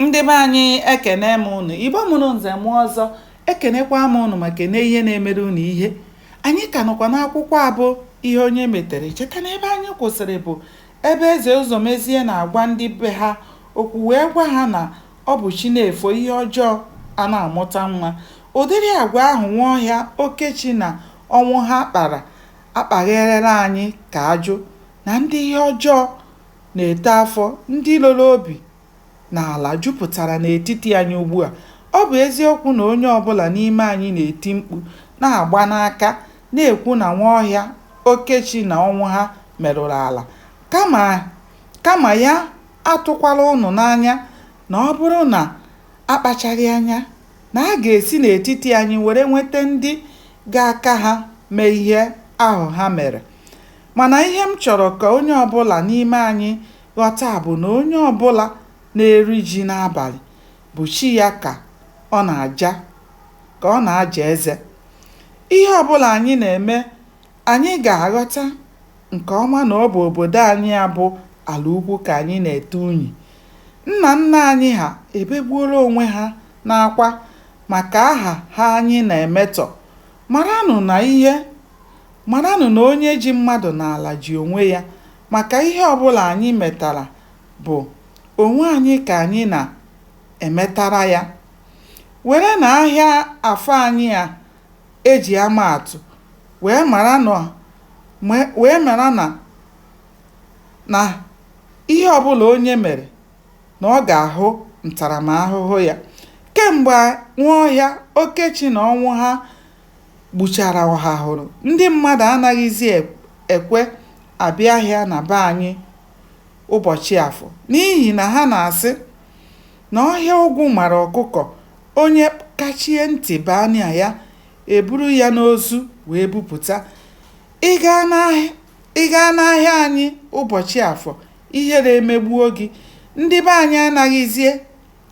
ndị be anyị ekene m ụnụ igbo mụrụ nze mụọ ọzọ ekenekwa m ụnụ ma kene ihe na-emere ụnụ ihe anyị ka nọkwa n'akwụkwọ a bụ ihe onye metere cheta na ebe anyị kwụsịrị bụ ebe eze ụzọmezie na-agwa ndị be ha okwu wee gwa ha na ọ bụ chi na-efo ihe ọjọọ a na-amụta nwa ụdịrị agwa ahụ nwaọhịa okechi na ọnwụha kpara akpagherela anyị ka ajụ na ndị ihe ọjọọ na-eto afọ, ndị loro obi n'ala jupụtara n'etiti anyị ugbu a. Ọ bụ eziokwu na onye ọ bụla n'ime anyị na-eti mkpu, na-agba n'aka, na-ekwu na Nwaọhịa, Okechi na Ọnwụha merụrụ ala, kama ya atụkwala ụnụ n'anya na ọ bụrụ na a kpachaghị anya, na a ga-esi n'etiti anyị were nweta ndị ga-aka ha mee ihe ahụ ha mere. Mana ihe m chọrọ ka onye ọbụla n'ime anyị ghọta bụ na onye ọbụla na-eri ji n'abalị bụ chi ya ka ọ na-aja ka ọ na-aja eze. Ihe ọbụla anyị na-eme, anyị ga-aghọta nke ọma na ọ bụ obodo anyị a bụ Alaukwu ka anyị na-ete unyi. Nna nna anyị ha ebegbuola onwe ha n'akwa maka aha ha anyị na-emetọ. Maranụ na ihe Maranụ na onye ji mmadụ n'ala ji onwe ya maka ihe ọbụla anyị metara bụ onwe anyị ka anyị na-emetara ya. Werenụ ahịa Afọ anyị a e ji ama atụ wee mara na ihe ọbụla onye mere na ọ ga-ahụ ntaramahụhụ ya. Kemgbe Nwaọhịa, Okechi na Ọnwụha gbuchara ọhahụrụ ndị mmadụ anaghịzi ekwe abịa ahịa na be anyị ụbọchị afọ n'ihi na ha na-asị na ọhịa ogwu mara ọkụkọ onye kachie ntị baa na ya eburu ya n'ozu wee bupụta ị gaa n'ahịa anyị ụbọchị afọ ihere emegbuo gị ndị be anyị anaghịzie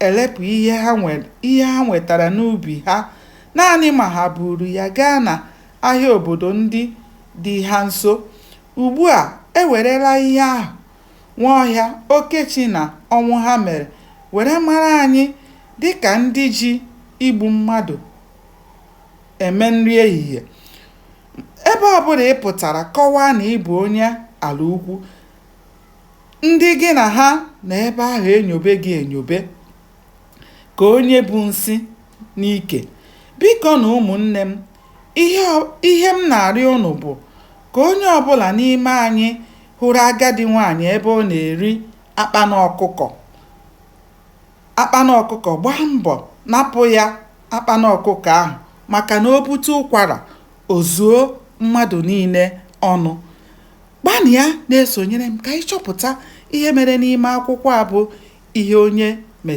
elepụ ihe ha nwetara n'ubi ha naanị ma ha buru ya gaa na ahịa obodo ndị dị ha nso. Ugbu a e werela ihe ahụ Nwaọhịa, Okechi na Ọnwụha mere were mara anyị dịka ndị ji igbu mmadụ eme nri ehihie. Ebe ọbụla ị pụtara kọwaa na ị bụ onye Alaukwu, ndị gị na ha nọ ebe ahụ enyobe gị enyobe ka onye bu nsị n'ike biko na ụmụnne m ihe m na-arịọ unu bụ ka onye ọbụla n'ime anyị hụrụ agadi nwaanyị ebe ọ na-eri akpana ọkụkọ akpana ọkụkọ gbaa mbọ napụ ya akpana ọkụkọ ahụ maka na o bute ụkwara o zuo mmadụ niile ọnụ Gbanịa na-esonyere m ka anyị chọpụta ihe mere n'ime akwụkwọ a bụ Ihe Onye Metara.